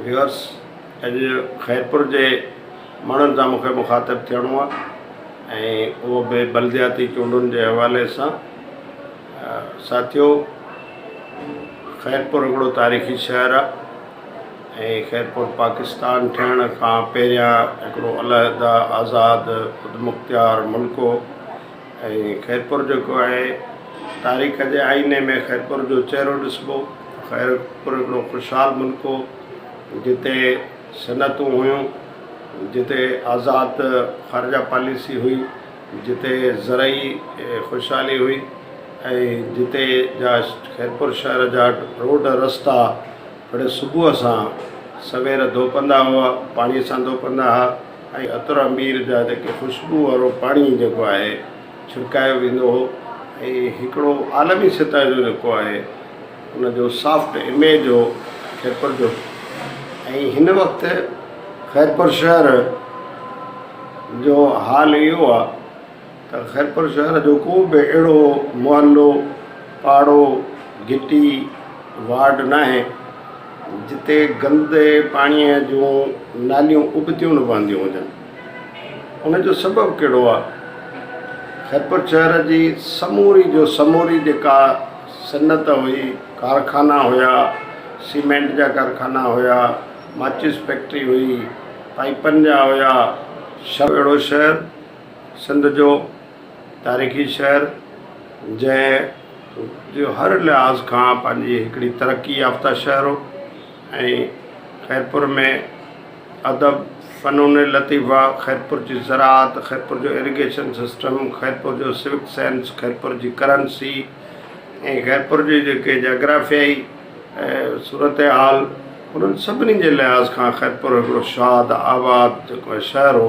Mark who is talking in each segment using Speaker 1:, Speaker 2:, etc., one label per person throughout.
Speaker 1: Viewers اڄ خيرپور جي ماڻهن سان مونکي مخاطب ٿيڻو آ ۽ اهو به بلدياتي چونڊن جي حوالي سان ساٿيو خيرپور هڪڙو تاريخي شهر آ ۽ خيرپور پاڪستان ٺهڻ کان پهريان هڪڙو علحده آزاد خودمختيار ملڪ هو ۽ خيرپور جيڪو آهي تاريخ جي آئيني ۾ خيرپور جو چهرو ڏسبو خيرپور هڪڙو خوشحال ملڪ هو جتي صنعتون هيون جتي آزاد خارجه پاليسي هئي جتي زرعي خوشحالي هئي ۽ جتي جا خيرپور شهر جا روڊ رستا هڙي صبح سان سوير ڌوپندا هئا پاڻي سان ڌوپندا هئا ۽ عطر عمير جا جيڪي خوشبو وارو پاڻي جيڪو آهي ڇرڪايو ويندو هو ۽ هڪڙو عالمي سطح جو جيڪو آهي ان جو سافٽ اميج هو خيرپور جو ۽ هن وقت خيرپور شهر جو حال اهو آهي ته خيرپور شهر جو ڪو به اهڙو محلو، پاڙو، گهٽي، وارڊ ناهي جتي گندي پاڻيء جون ناليون ابتيون نه وهنديون هجن. ان جو سبب ڪهڙو آهي؟ خيرپور شهر جي سموري جو سموري جيڪا صنعت هئي، ڪارخانا هيا، سيمينٽ جا ڪارخانا هيا، ماچس فيڪٽري هئي، پائپن جا هيا، شراب اهڙو شهر، سنڌ جو تاريخي شهر جنهن جو هر لحاظ کان پنهنجي هڪڙي ترقي يافته شهر هو ۽ خيرپور ۾ ادب فنون لطيفه خيرپور جي زراعت خيرپور جو اريگيشن سسٽم خيرپور جو سوڪ سينس خيرپور جي ڪرنسي ۽ خيرپور جي جيڪي جاگرافيائي صورت حال انهن سڀني جي لحاظ کان خيرپور هڪڙو شاد آباد جيڪو شهر هو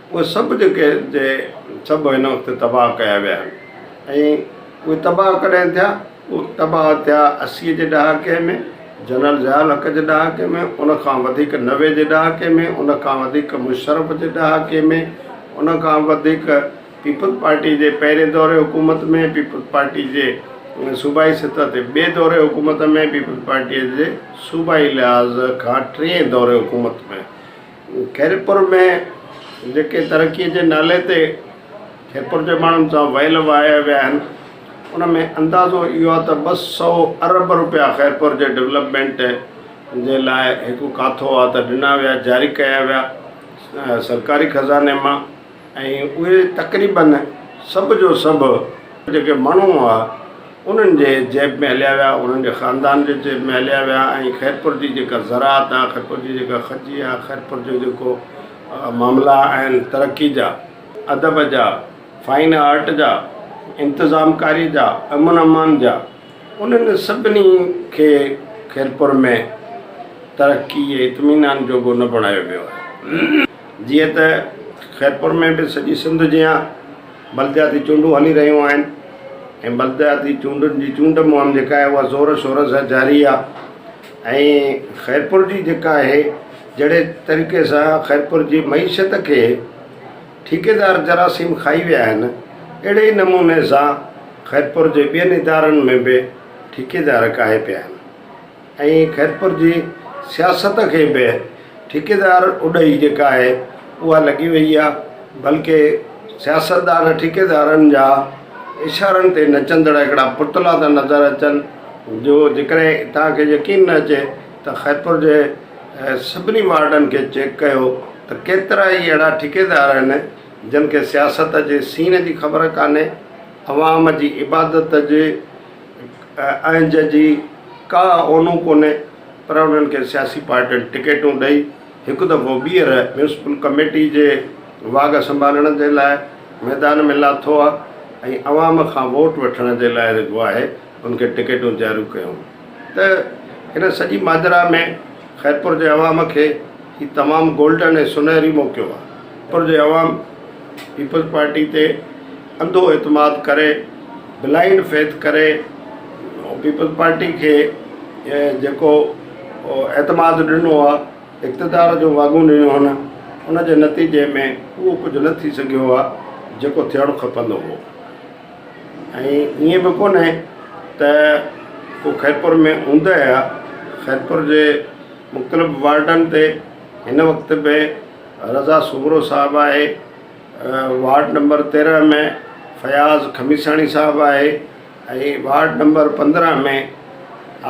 Speaker 1: اهي سڀ جيڪي جي سڀ هن وقت تباهه ڪيا ويا آهن ۽ اهي تباهه ڪڏهن ٿيا اهي تباهه ٿيا اسيء جي ڏهاڪي ۾ جنرل ضياء الحق جي ڏهاڪي ۾ ان کان وڌيڪ نوي جي ڏهاڪي ۾ ان کان وڌيڪ مشرف جي ڏهاڪي ۾ ان کان وڌيڪ پيپلز پارٽي جي پهرين دور حڪومت ۾ پيپلز پارٽي جي صوبائي سطح تي ٻئي دور حڪومت ۾ پيپلز پارٽي جي صوبائي لحاظ کان ٽئين دور حڪومت ۾. خيرپور ۾ جيڪي ترقي جي نالي تي خيرپور جي ماڻهن سان ويل وهايا ويا آهن ان ۾ اندازو اهو آهي ته ٻه سؤ ارب روپيا خيرپور جي ڊولپمينٽ جي لاء هڪ ڪاٿو آهي ته ڏنا ويا جاري ڪيا ويا سرڪاري خزاني مان ۽ اهي تقريباً سڀ جو سڀ جيڪي ماڻهو هئا، انهن جي جيب ۾ هليا ويا، انهن جي خاندان جي جيب ۾ هليا ويا ۽ خيرپور جي جيڪا زراعت آ، خيرپور جي جيڪا کجي آ، خيرپور جو جيڪو معاملا آهن ترقي جا، ادب جا، فائن آرٽ جا، انتظام ڪاري جا، امن امان جا، انهن سڀني کي خيرپور ۾ ترقي ۽ اطمينان جوڳو نه بڻايو ويو آهي. جيئن ته خيرپور ۾ به سڄي سنڌ جيان بلدياتي چونڊون هلي رهيون آهن ۽ بلدياتي چونڊن جي چونڊ مهم جيڪا آهي اها زور شور سان جاري آهي ۽ خيرپور جي جيڪا آهي جهڙي طريقي سان خيرپور جي معيشت کي ٺيڪيدار جراثيم کائي ويا آهن اهڙي ئي نموني سان خيرپور جي ٻين ادارن ۾ به ٺيڪيدار ڪاهي پيا آهن ائين خيرپور جي سياست کي به ٺيڪيدار اڏهي جيڪا آهي اها لڳي وئي آهي بلڪه سياستدان ٺيڪيدارن جا اشارن تي نچندڙ هڪڙا پتلا ٿا نظر اچن جو جيڪڏهن توهان کي يقين نه اچي ته خيرپور جي سڀني وارڊن کي چيڪ ڪيو ته ڪيترا ئي اهڙا ٺيڪيدار آهن جن کي سياست جي سين جي خبر ڪانهي عوام جي عبادت جي ۽ جنهن جي ڪا اونو ڪونهي پر انهن کي سياسي پارٽين ٽڪيٽون ڏئي هڪ دفعو ٻيهر ميونسپل ڪميٽي جي واڳ سنڀالڻ جي لاء ميدان ۾ لاٿو آ ۽ عوام کان ووٽ وٺڻ جي لاء جيڪو آهي ان کي ٽڪيٽون جاريون ڪيون ته ان سڄي ماجرا ۾ خيرپور جي عوام کي هي تمام گولڊن ۽ سونهري موقعو آ خيرپور جي عوام پيپلز پارٽي تي انڌو اعتماد ڪري، بلائنڊ فيٿ ڪري، پيپلز پارٽي کي جيڪو اعتماد ڏنو آ، اقتدار جو واڳون ڏنيون هن، ان جي نتيجي ۾ اهو ڪجهه نه ٿي سگهيو آ جيڪو ٿيڻ کپندو هو ۽ ائين به ڪونهي ته ڪو خيرپور ۾ اوندهه آ، خيرپور جي مختلف وارڊن تي هن وقت به رضا سومرو صاحب آهي. وارڊ نمبر تيرنهن ۾ فياض خميساڻي صاحب آهي ۽ وارڊ نمبر پندرنهن ۾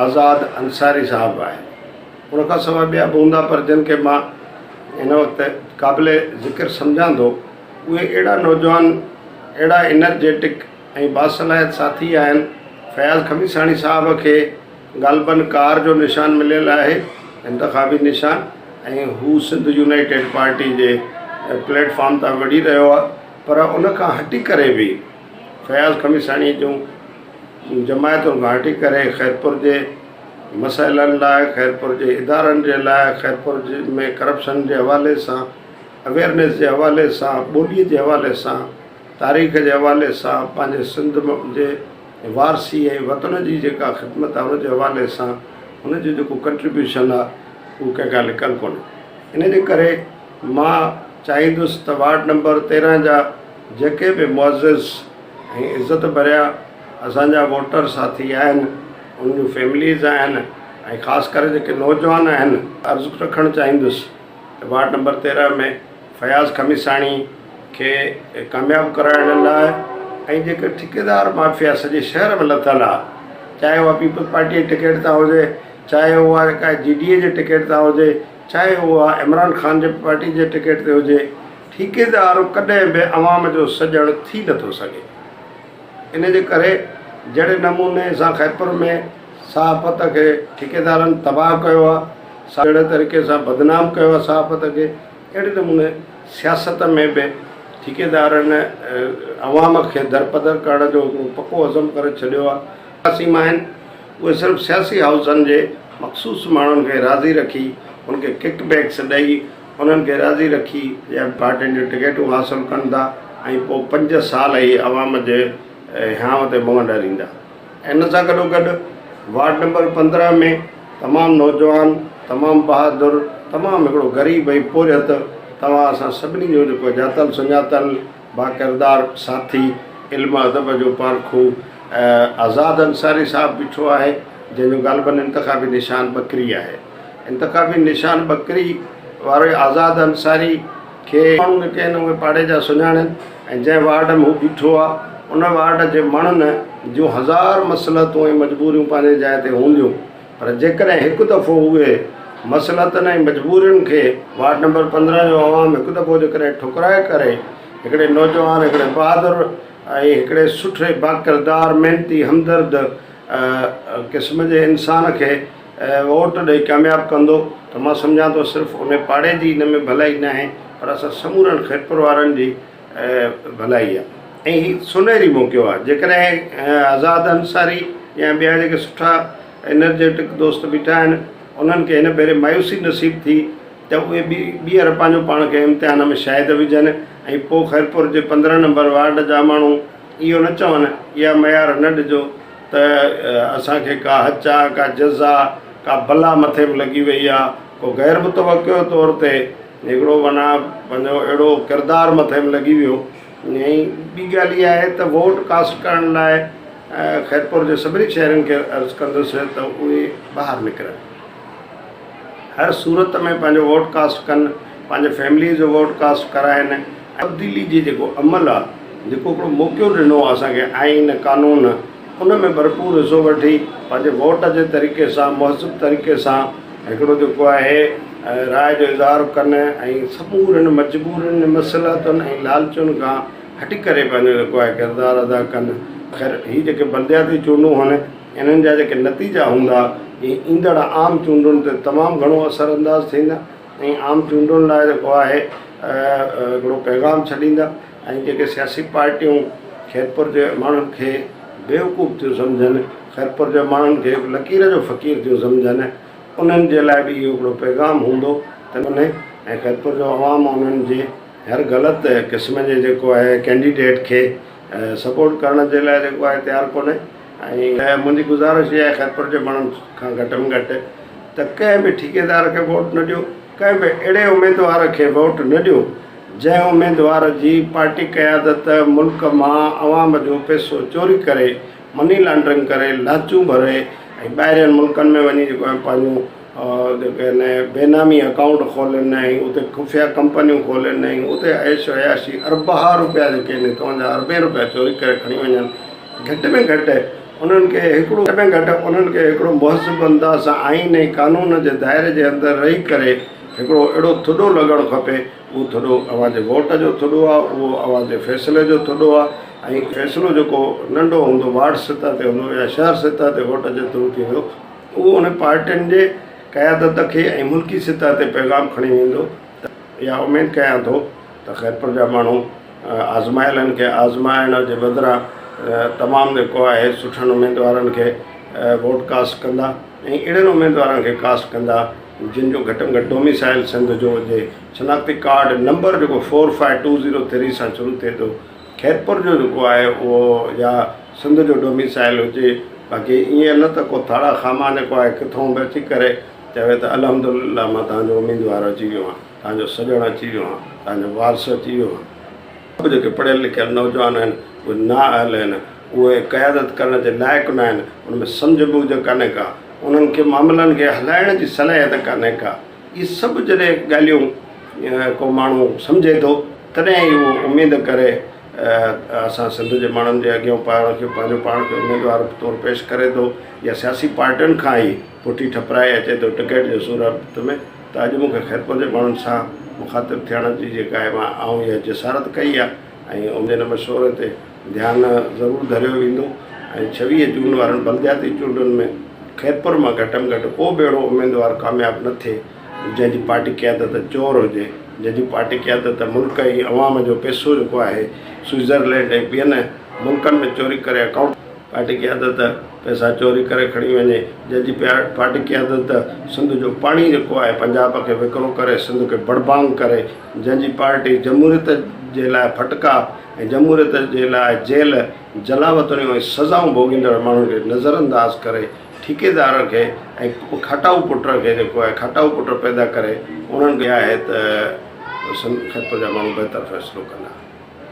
Speaker 1: آزاد انصاري صاحب آهي ان کان سواء ٻيا به هوندا پر جن کي مان هن وقت قابل ذڪر سمجهان ٿو اهي اهڙا نوجوان اهڙا انرجيٽڪ ۽ باصلاحيت ساٿي آهن فياض خميساڻي صاحب کي غالبن ڪار جو نشان مليل آهي، انتخابي نشان، ۽ هو سنڌ يونائيٽيڊ پارٽي جي پليٽ فارم تان وڙهي رهيو آهي پر ان کان هٽي ڪري به فياض خميساڻي جون جماعتن کان هٽي ڪري خيرپور جي مسئلن لاء خيرپور جي ادارن جي لاء خيرپور ۾ ڪرپشن جي حوالي سان اويئرنيس جي حوالي سان ٻولي جي حوالي سان تاريخ جي حوالي سان پنهنجي سنڌ جي وارثي ۽ وطن جي جيڪا خدمت آهي ان جي حوالي سان ان جو جيڪو ڪنٽريبيوشن آهي اهو ڪنهن کان لڪل ڪونهي ان جي ڪري مان چاهيندس ته وارڊ نمبر تيرهن جا جيڪي به معزز ۽ عزت ڀريا اسانجا ووٽر ساٿي آهن ان جون فيمليز آهن ۽ خاص ڪري جيڪي نوجوان آهن عرض رکڻ چاهيندس وارڊ نمبر تيرنهن ۾ فياض خميساڻي کي ڪامياب ڪرائڻ لاء ۽ جيڪر ٺڪيدار مافيا سڄي شهر ۾ لٿل آ چاهي اها پيپلز پارٽي جي ٽڪيٽ تان هجي چاهي اها جيڪا جي ڊي اي جي ٽڪيٽ تان هجي چاهي اها عمران خان جي پارٽي جي ٽڪيٽ تي هجي ٺيڪيدار ڪڏهن به عوام جو سڄڻ ٿي نٿو سگهي ان جي ڪري جهڙي نموني سان خيبر ۾ صحافت کي ٺيڪيدارن تباهه ڪيو آهي، ساڳئي طريقي سان بدنام ڪيو آهي صحافت کي، اهڙي نموني سياست ۾ به ٺيڪيدارن عوام کي درپدر ڪرڻ جو هڪڙو پڪو عزم ڪري ڇڏيو آهي. سياسي ماهن اهي صرف سياسي هائوسن جي مخصوص ماڻهن کي راضي رکي ان کي ڪڪ بيڪس ڏئي، انهن کي راضي رکي ايم پارٽين جون ٽڪيٽون حاصل ڪن ٿا ۽ پوء پنج سال هي عوام جي هيانء تي منهن ڏريندا. ان سان گڏوگڏ وارڊ نمبر پندرهن ۾ تمام نوجوان، تمام بهادر، تمام هڪڙو غريب ۽ پورهيت توهان اسان سڀني جو جيڪو ڄاتل سڃاتل باڪردار ساٿي، علم ادب جو پارکو آزاد انصاري صاحب بيٺو آهي، جنهن جو غالباً انتخابي نشان ٻڪري آهي. انتخابي نشان ٻڪري وارو آزاد انصاري کي ماڻهو نه ڪين اهي پاڙي جا سڃاڻن ۽ جنهن وارڊ ۾ هو بيٺو آهي ان وارڊ جي مڻن جون هزار مصلحتون ۽ مجبوريون پنهنجي جاء تي هونديون پر جيڪڏهن هڪ دفعو اهي مصلحتن ۽ مجبورين کي وارڊ نمبر پندرهن جو عوام هڪ دفعو جيڪڏهن ٺڪرائي ڪري هڪڙي نوجوان هڪڙي بهادر ۽ هڪڙي سٺي باڪردار محنتي همدرد قسم جي انسان کي ووٽ ڏئي ڪامياب ڪندو ته مان سمجهان ٿو صرف انهي پاڙي جي ان ۾ ڀلائي ناهي پر اسان سمورن خيرپور وارن جي ڀلائي آهي ۽ هي سونهري موقعو آهي جيڪڏهن آزاد انصاري يا ٻيا جيڪي سٺا انرجيٽڪ دوست بيٺا آهن انهن کي هن ڀيري مايوسي نصيب ٿي ته اهي به ٻيهر پنهنجو پاڻ کي امتحان ۾ شاهد وجهن ۽ پوء خيرپور جي پندرهن نمبر وارڊ جا ماڻهو اهو نه چون اها ميار نه ڏجو ته اسان کي ڪا هچاء، ڪا جزا، ڪا بلا مٿي به لڳي وئي آ، ڪو غير متوقع طور تي هڪڙو معنيٰ پنهنجو اهڙو ڪردار مٿي به لڳي ويو. ۽ ٻي ڳالهه اها آهي ته ووٽ ڪاسٽ ڪرڻ لاء خيرپور جي سڀني شهرين کي عرض ڪندس ته اهي ٻاهر نڪرن. هر صورت ۾ پنهنجو ووٽ ڪاسٽ ڪن، پنهنجي فيمليء جو ووٽ ڪاسٽ ڪرائين ۽ تبديلي جي جيڪو عمل آ، جيڪو هڪڙو موقعو ڏنو آ اسان کي آئين قانون، ان ۾ ڀرپور حصو وٺي پنهنجي ووٽ جي طريقي سان مهذب طريقي سان هڪڙو جيڪو آهي راء جو اظهار ڪن ۽ سمورين مجبورين، مصلحتن ۽ لالچن کان هٽي ڪري پنهنجو جيڪو آهي ڪردار ادا ڪن. خير هي جيڪي بلدياتي چونڊون هن. انهن جا جيڪي نتيجا هوندا، اهي ايندڙ عام چونڊن تي تمام گهڻو اثر انداز ٿيندا ۽ عام چونڊن لاء جيڪو آهي هڪڙو پيغام ڇڏيندا ۽ جيڪي سياسي پارٽيون خيرپور جي ماڻهن کي بيوقوف ٿيون سمجهن، خيرپور جي ماڻهن کي هڪ لڪير جو فقير ٿيون سمجهن، انهن جي لاء به اهو هڪڙو پيغام هوندو ته انهي ۽ خيرپور جو عوام انهن جي هر غلط قسم جي جيڪو آهي ڪينڊيڊيٽ کي. سپورٽ ڪرڻ جي لاء جيڪو آهي تيار ڪونهي ۽ منهنجي گذارش اها آهي خيرپور جي ماڻهن کان گهٽ ۾ گهٽ ته ڪنهن به ٺيڪيدار کي ووٽ نه ڏيو ڪنهن به اهڙي اميدوار کي ووٽ نه ڏيو جنهن اميدوار جي پارٽي قيادت ملڪ مان عوام جو پئسو چوري ڪري مني لانڊرنگ ڪري لاچون ڀري ۽ ٻاهرين ملڪن ۾ وڃي جيڪو آهي پنهنجون ڪنهن بينامي اڪائونٽ کولينائين، اتي خفيه ڪمپنيون کولينائين، اتي عيش و عياشي، اربها روپيا جيڪي آهن توهان جا اربين روپيا چوري ڪري کڻي وڃن. گهٽ ۾ گهٽ انهن کي هڪڙو گهٽ ۾ گهٽ انهن کي هڪڙو مهذب انداز سان آئين ۽ قانون جي دائري جي اندر رهي ڪري هڪڙو اهڙو ٿڏو لڳڻ کپي. اهو ٿڏو اوهان جي ووٽ جو ٿڏو آهي، اهو اوهان جي فيصلي جو ٿڏو آهي ۽ فيصلو جيڪو ننڍو هوندو وارڊ سطح تي هوندو يا شهر سطح تي ووٽ جي ٿرو ٿيندو، اهو انهن پارٽين جي قيادت کي ۽ ملڪي سطح تي پيغام کڻي ويندو ته اها اميد ڪيان ٿو ته خيرپور جا ماڻهو آزمايلن کي آزمائڻ جي بدران تمام جيڪو آهي سٺن اميدوارن کي ووٽ ڪاسٽ ڪندا ۽ اهڙن اميدوارن کي ڪاسٽ ڪندا جن جو گهٽ ۾ گهٽ ڊوميسائل سنڌ جو هجي شناختي ڪارڊ نمبر جيڪو four five two zero three سان شروع ٿئي ٿو خيرپور جو جيڪو آهي اهو يا سنڌ جو ڊوميسائل هجي باقي ايئن نه ته ڪو ٿاڙا خاما نڪو آهي ڪٿون به اچي ڪري چوي ته الحمد لله مان تنهنجو اميدوار اچي ويو آهيان تنهنجو سڄڻ اچي ويو آهيان تنهنجو وارث اچي ويو آهيان. اهو جيڪي پڙهيل لکيل نوجوان آهن اهي نااهل آهن اهي قيادت ڪرڻ جي لائق ناهن ان ۾ سمجهه بوجهه ڪانهي ڪا انهن کي معاملن کي هلائڻ جي صلاحيت ڪانهي ڪا. اهي سڀ جڏهن ڳالهيون ڪو ماڻهو سمجهي ٿو تڏهن ئي اهو اميد ڪري اسان سنڌ جي ماڻهن جي اڳيان پاڻ کي پنهنجو پاڻ کي اميدوار طور پيش ڪري ٿو يا سياسي پارٽين کان ئي پٺي ٺپرائي اچي ٿو ٽڪيٽ جي صورت ۾ ته اڄ مون کي خيرپور جي ماڻهن سان مخاطب ٿيڻ جي جيڪا آئون اها جسارت ڪئي آهي ۽ اميد مشوري تي ڌيان ضرور ڌريو ويندو ۽ ڇويهه جون وارن بلدياتي چونڊن ۾ خيرپور مان گهٽ ۾ گهٽ ڪو به اهڙو اميدوار ڪامياب نه ٿئي جنهن جي پارٽي قيادت چور هجي جنهن جي پارٽي قيادت ملڪ ۽ عوام جو پئسو جيڪو آهي سوئيزرلينڊ ۽ ٻين ملڪن ۾ چوري ڪري اڪائونٽ پارٽي قيادت پئسا چوري ڪري کڻي وڃي جنهن جي پارٽي قيادت سنڌ جو پاڻي جيڪو آهي پنجاب کي وڪرو ڪري سنڌ کي بڙبانگ ڪري جنهن جي پارٽي جمهوريت جي لاء ڦٽڪا ۽ جمهوريت جي لاء جيل، جلاوطنيون ۽ سزائون ڀوڳيندڙ ماڻهن کي نظرانداز ڪري ٺيڪيدار کي ۽ کٽائو پٽ کي جيڪو آهي کٽائو پٽ پيدا ڪري انهن کي آهي ته سنڌ خطي جا ماڻهو بهتر فيصلو ڪندا.